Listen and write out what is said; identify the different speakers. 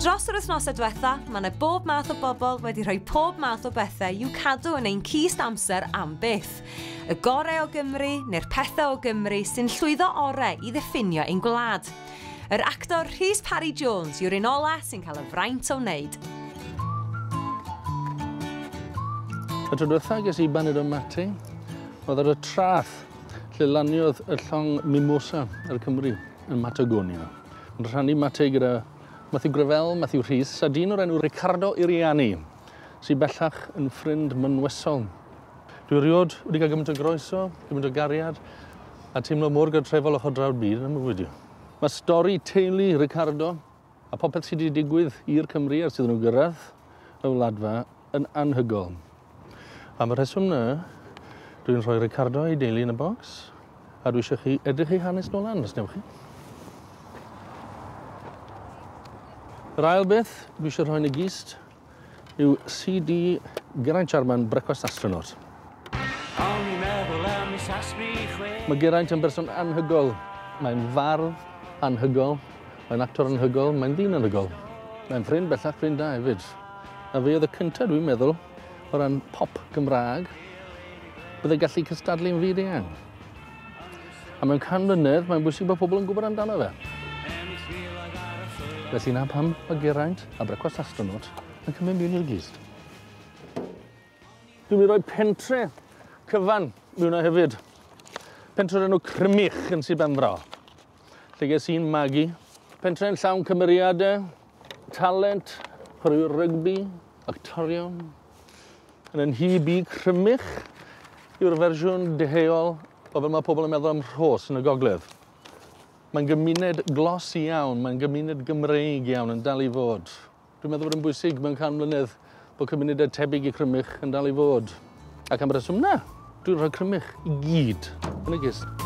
Speaker 1: Dros yr wythnosau diwetha, mae yna bob math o bobl wedi rhoi pob math o bethau i'w cadw yn ein cist amser am byth. Y gorau o Gymru neu'r pethau o Gymru sy'n llwyddo orau i ddiffinio ein gwlad. Yr actor Rhys Parry Jones yw'r un ola sy'n cael y fraint o wneud.
Speaker 2: Y tro diwetha ges i baned o mate, oedd ar y trath lle laniodd y llong mimosa ar Cymru yn Matagonia. Yn rhannu mate gyda Matthew Gravell, Matthew Rhys a dyn o'r enw Ricardo Iriani, sydd bellach yn ffrind mynwesol. Dwi erioed wedi cael gymaint o groeso, gymaint o gariad a teimlo mor gartrefol ochr draw'r byd yn y mywyd i. Mae stori teulu Ricardo a popeth sydd wedi digwydd i'r Cymry ers iddyn nhw gyrraedd y Wladfa yn anhygoel. Am y rheswm 'na, dwi'n rhoi Ricardo a'i deulu yn y bocs, a dwi eisiau chi edrych ei hanes nôl lan, os newch chi. Yr ail beth dwi eisiau rhoi yn y gist yw CD Geraint Jarman, Brecwast Astronaut. O'n i'n meddwl am i sasbri chwe. Mae Geraint yn berson anhygol. Mae'n fardd anhygol, mae'n actor anhygol, mae'n ddyn anhygol. Mae'n ffrind bellach ffrind da hefyd. A fe oedd y cyntaf, dwi'n meddwl, o ran pop Gymraeg, byddai gallu cystadlu'n fyd eang. A mewn can mlynedd, mae'n bwysig bod pobl yn gwybod amdano fe. Felly na pam mae Geraint a Brecwast Astronaut yn cymryd mewn i'r glust. Dwi'n mynd i roi pentre cyfan mewn o hefyd. Pentre o'r enw Crymych yn Sir Benfro. Lle ges i'n magu. Pentre yn llawn cymeriadau, talent, chwaraewyr rygbi, actorion. Yn yn hyb i, Crymych yw'r fersiwn deheuol o fel mae pobl yn meddwl am Rhos yn y gogledd. Mae'n gymuned glos iawn, mae'n gymuned Gymreig iawn yn dal i fod. Dwi'n meddwl bod yn bwysig mewn can mlynedd bod cymunedau tebyg i Crymych yn dal i fod. Ac am y reswm na, dwi'n rhoi Crymych i gyd yn y gist.